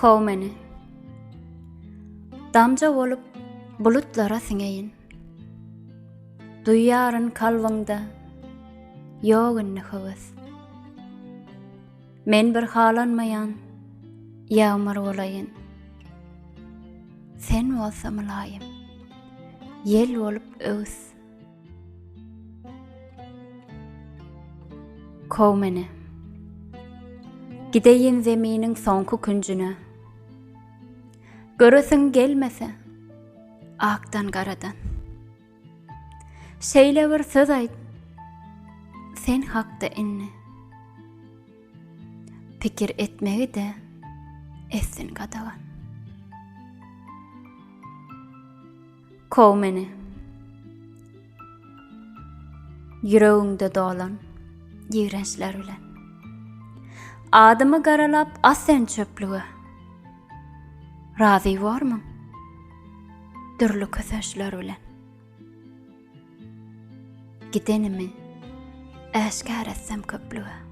Kow meni. Damja bolup bulutlara siňeýin. Duýýaryn kalbyňda ýok indi höwes. Men bir halanmaýan ýagmyr bolaýyn. Sen bolsa mylaýym, ýel bolup öwüs. Kow meni. Gideýin zeminiň soňky künjüne. Göresiň gelmese, akdan garadan. Şeýle bir söz aýt sen hakda indi. Pikir etmegi de etsin gadagan. Kow meni. Ýüregiňde dolan ýigrençler bilen. Adymy garalap as sen çöplüge. Razy bormuň? Dürli kösençler bilen. Gidenimi äşgär etsem köplüge.